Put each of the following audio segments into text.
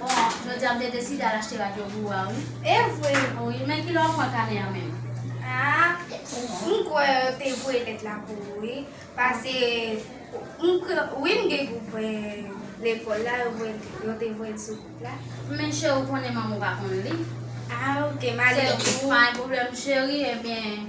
Bon jodi a m te deside al achte radyo gou a wi. Evre ui men kilè wap pran kanè an menm. Ah m kwè yo te voye lèt la pou ou wi pase m kwè wi m gen gwoup lekòl la yo te voye l sou gwoup la. Men cheri ou konnen manman w pa konn li. Ah ok m ale pou ou. Se pa yon pwoblèm cheri ebyen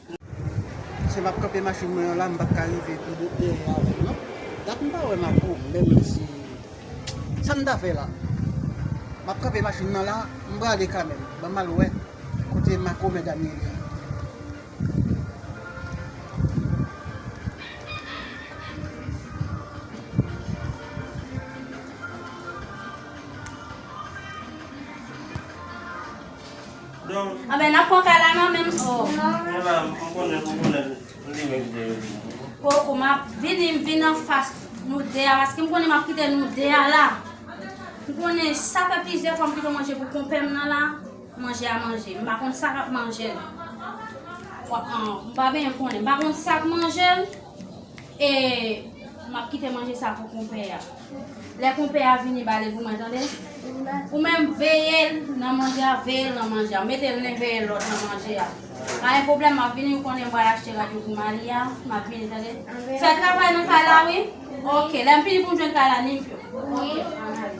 Se map kanpe machine mwen an la m pap ka rive pi lwen dèyè avèl non dat m pa wè Marco menm si sam ta fè la map kanpe machine nan la m prale kanmèm banm al wè kote Marco mèdam ye li. Anben nap pran kay la nan menm Koko map vini m vin anfas nou 2 a paske m konnen map kite nou 2 a la M konnen sa fè plizyè fwa m kite manje pou konpè m nan la manje a manje m pa konn sa kap manje l m pa byen konnen m pa konn sak manje l e map kite manje sa pou konpè a. Lè konpè a vini bale pou mwen tande Ou menm veyel nan manje a veyel nan manje a metel nen veyel lòt nan manje a Pa gen pwoblèm map vini ou konnen m pral achte rad yo pou Mali a map vini tande Fè travay nan kay la wi Ok lèm fini poum jwenn kay la nim yo Ok an ale.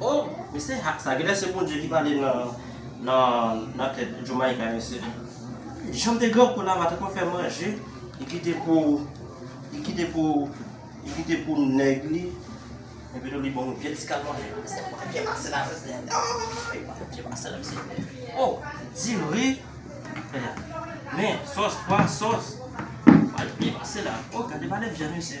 Oh me se hat sa genlè se bondye ki pale nan tèt jomayika yo se janm te gran kou la mwen te konn fè manje li kite pou li kite pou li kite pou nèg li epi tou li banm yon vye ti kal manje me se pa vye pase la se se ooyy pa vye pase la me se oh di ri men sos pwa sos pa vye pase la oh gade pa de vyann mesye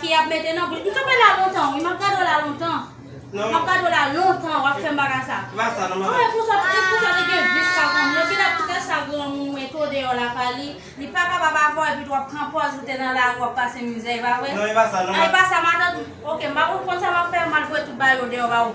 Ki yap mete nan bouch. M ka pale a lontan wi. M ap gade w la lontan. M ap gade w la lontan w ap fè m bagay sa. Ki bagay sa nan malade. Pou sa te gen vis sa kon moun. Epi dapre tès sa granmoun mwen to deyò la pa li. Li pa kapab avè w epi tou w ap pran pòz ou te nan lari w ap pase mizè. E pa vre? Non e pa sa nan malade. E pa sa matant. Ok m pa konn sa m ap fè. M al voye tout bagay yo deyò ba ou.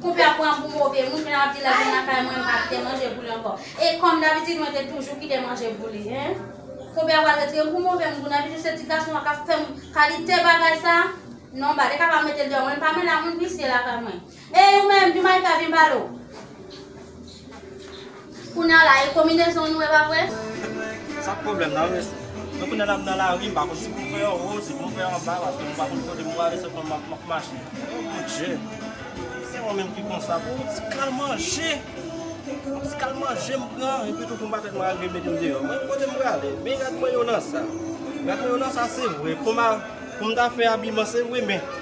Koupe a pran pou move moun men lap di lèl vin lakay mwen mpa kite manje boule ankò e kòm dabitid mwen te toujou kite manje boule hein koupe a pral retirem pou move moun kounye a toujou se ti gason an kap fèm kalite bagay sa non ba li ka pa metel deyò mwen mpa menla moun visye lakay mwen ey ou menm Jumayka vin pale w. Kounya la e kominezon nou e pa vre? Sak pwoblèm nan res Mwen kounya la m nan lari m pa konn si pou m fè an wo si pou m fè an ba paske m pa konn kote m prale se kòman m ap mache oh mon Dieu Se mwen menm ki konsa pou yon ti kal manje Yon ti kal manje m pran epi tou pou m pa fè m rale mete m deyò Mwen kote m prale men rad mwen yo nan sa Rad mwen yo nan sa se vre pou m ta fè abiman se vre men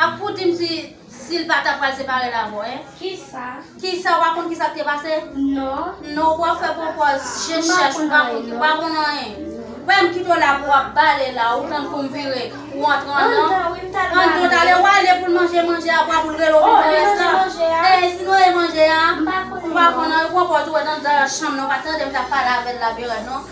Ap fout dim si sil pa ta pral separel avèw hein. Kisa? Kisa ou pa konn kisa ki te pase? Non. Non ou ap fè pwopòz je chèch ou pa konn ou pa konn anyen. Frèm kite w la pou w ap bale la ou tann poum vire ou antre andan. Andan wi m tal bale. Andan tale ou ale poul manje manje apwa poul rele ou vin pran rès la. Oh li manje manje a. E sinon e manje a. M pa konn. Ou pa konn anyen ou pran pòz ou wè nan dan chanm nan ou pa tandem tap pale avèl la berad non.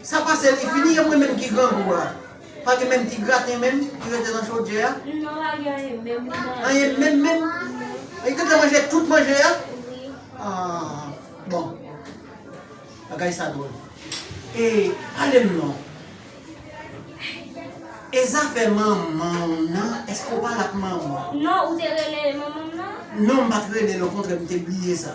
Sa pase li fini e mwen menm ki grangou a pa gen menm ti graten menm ki rete nan chodyè a anyen menm menm li tenten manje tout manje a aah bon bagay sa dwòl e pale m non e zafè manman w nan eske w pale ak manman w non m pat rele l okontrè m te bliye sa.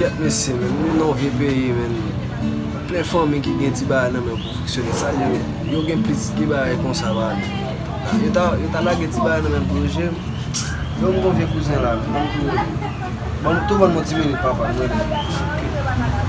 Kèt mesye men, nou nan vye peyi men, plen fanmi ki gen ti bagay nan men pou fonksyone, sa di yo gen plis ki bagay konsa ba nou. Yo ta, yo ta lage ti bagay nan men pou yo jwe, yo m gon vye kouzen la men, banm tou rele. Banm tou banm yon ti minit papa, m rele l.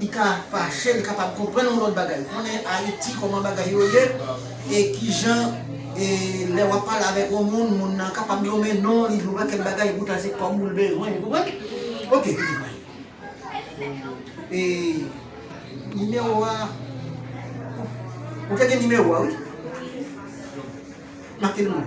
Li ka fache, li ka pa konprann yon lòt bagay. Konnen Ayiti, kòman bagay yo ye, e ki jan e lè w ap pale avèk yon moun, moun nan kapab nonmen non li, yon pakèt bagay, e poutan se kòb ou l bezwen. Ou konprann? Ok, piti mwen. E nimewo a Ou te gen nimewo a, wi? Make l pou mwen.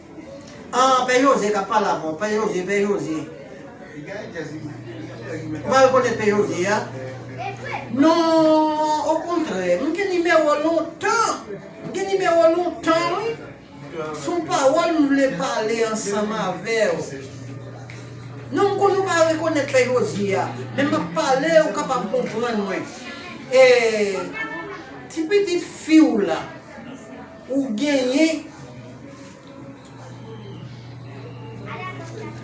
Ahh pè Jose kap pale avèw pè Jose pè Jose ou pa rekonèt pè Jose a non okontrè m gen nimewo w lontan m gen nimewo w lontan wi son pawòl m vle pale ansanm avèw non m konnen ou pa rekonèt pè Jose a men map pale ou kapab konprann mwen ee ti pitit fiw la. Ou genyen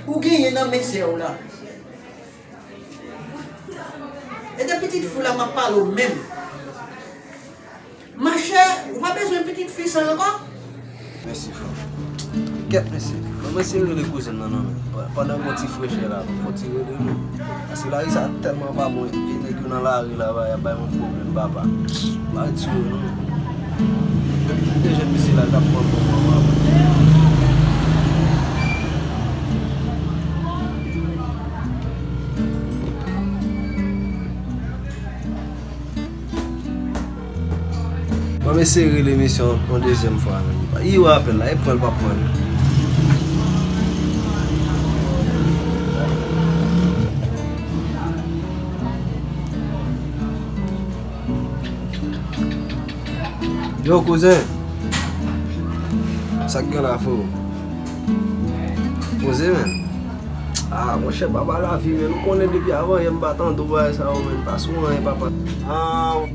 Ou genyen nan men sèw la. E de pitit fi w la map pale w menm. Ma chè ou pa bezwen pitit fi sa ankò? Mèsi fanm. Kèt mesye. Mwen mwen se rele kouzen nan non men. Pandan gon ti frechè la. Fon ti rele non. Ti lari sa telman pa bon e neg yo nan lari la yap bay moun problem papa pa tiye yo non Li te jen misye la tap pran bon manman l. Bon m eseye rele mesye an yon dezyèm fwa men li pa Ii wè apèl la e pranl pa pranl Yo kouzen Sak gen la freo Poze men Aa monchè baba lavi men ou konnen depi avan yè m pa tande w bagay sa yo men pa sou anyen papa Aa.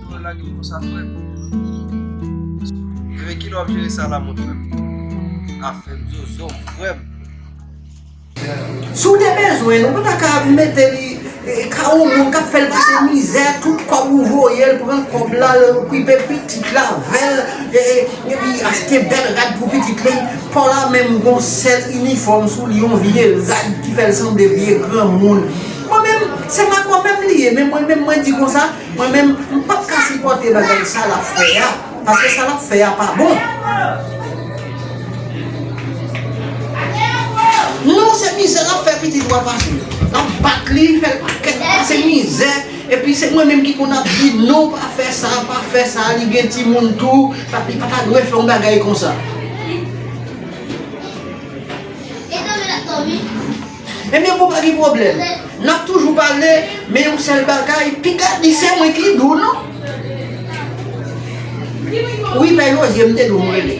Mwen lage m konsa frèm. Ebyen kilè wap jere sa la mon frèm. Afèm zozo m frèm. Si w te bezwen l ou pa ta ka mete li ka yon moun kap fè l pase mizè tout kòb ou voye l pran kòb la l okipe pitit la avè l epi achte bèl rad pou pitit li paw la menm gon sèl inifòm sou li yon vye rad ki fè l sanble vye granmoun mwen menm se pa kòm menm li ye men mwen menm mwen di konsa. Mwen menm m pap ka sipòte bagay sa lap fè a paske sa lap fè a pa bon. Non se mizè lap fè pitit ou a pase lap bat li fèl pakèt pase mizè epi se mwen menm ki konn ap di non pa fè sa pa fè sa li gen timoun tou li pa ta dwe fè yon bagay konsa. Ebyen konpa gen pwoblèm. Nap toujou pale men yon sèl bagay piga di se mwen ki dou non. Wi pè Jozye mte dou mrele.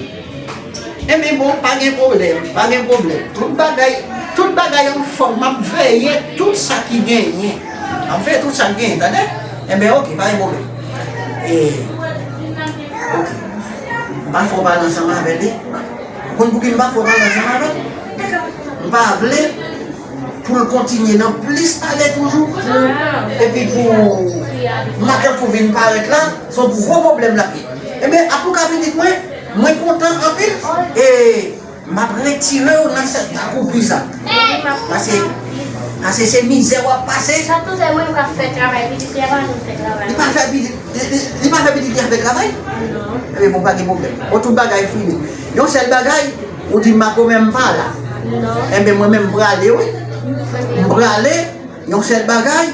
Ebyen bon pa gen pwoblèm, pa gen pwoblèm. Tout bagay, tout bagay an fòm map veye tout sa ki genyen. Map veye tout sa ki genyen tande. Ebyen ok pa gen pwoblèm. E ok. Mpa fè w pale ansanm avèl wi. Ou konn pouki m pa fè w pale ansanm avè l? M pa vle pou l kontinye nan plis pale toujou pou epi pou matant pou vin parèt la, se yon gwo pwoblèm l ap gen. Ebyen ap ou ka pitit mwen, mwen kontan anpil e m ap retire w nan sèk akoupi sa. Pase se mizè w ap pase. Li pa fè pitit. Li pa fè pitit li avèg la vre? Non. Ebyen bon pa gen pwoblèm. Bon tout bagay fini. Yon sèl bagay, ou di Marco menm pa la. Non. Ebyen mwen menm prale wi. M prale, yon sèl bagay.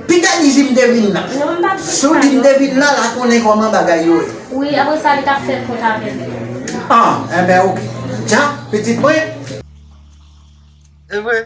Pita di si m te vin la. Non m pa di. Si w di m te vin la, la konnen kòman bagay yo ye. Wi, apre sa li ta fè kont avè m. An, ebyen ok. Dja, pitit mwen. Evre?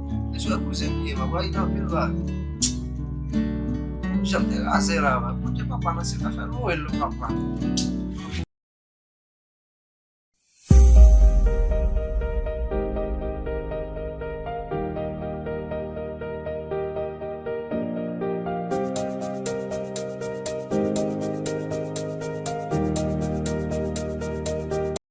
Mesye ak kouzen m ye papa a gen anpil vale. Jan m te raze la mwen pote papa nan se ta fè nwèl non papa.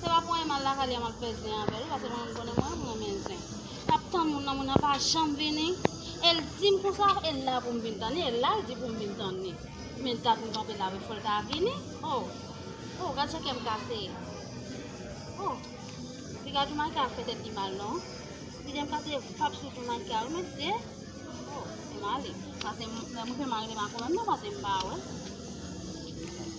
Se pa ponyen mal lakay li a map fè zen avèl wi pase mwen menm konnen mwen renmen zen. Map tann moun nan moun nan pa janm vini el dim konsa el la poum vin tann li el la ldi poum vin tann li men dat mwen kanpe la wi fol ta vini oh oh gad jan kèm kase oh epi gad joumanjka ap fè tèt li mal non li janm kase pap sou joumanjka wi mesye oh se male pase mwen fè mari li makomèm non pase mpa wè.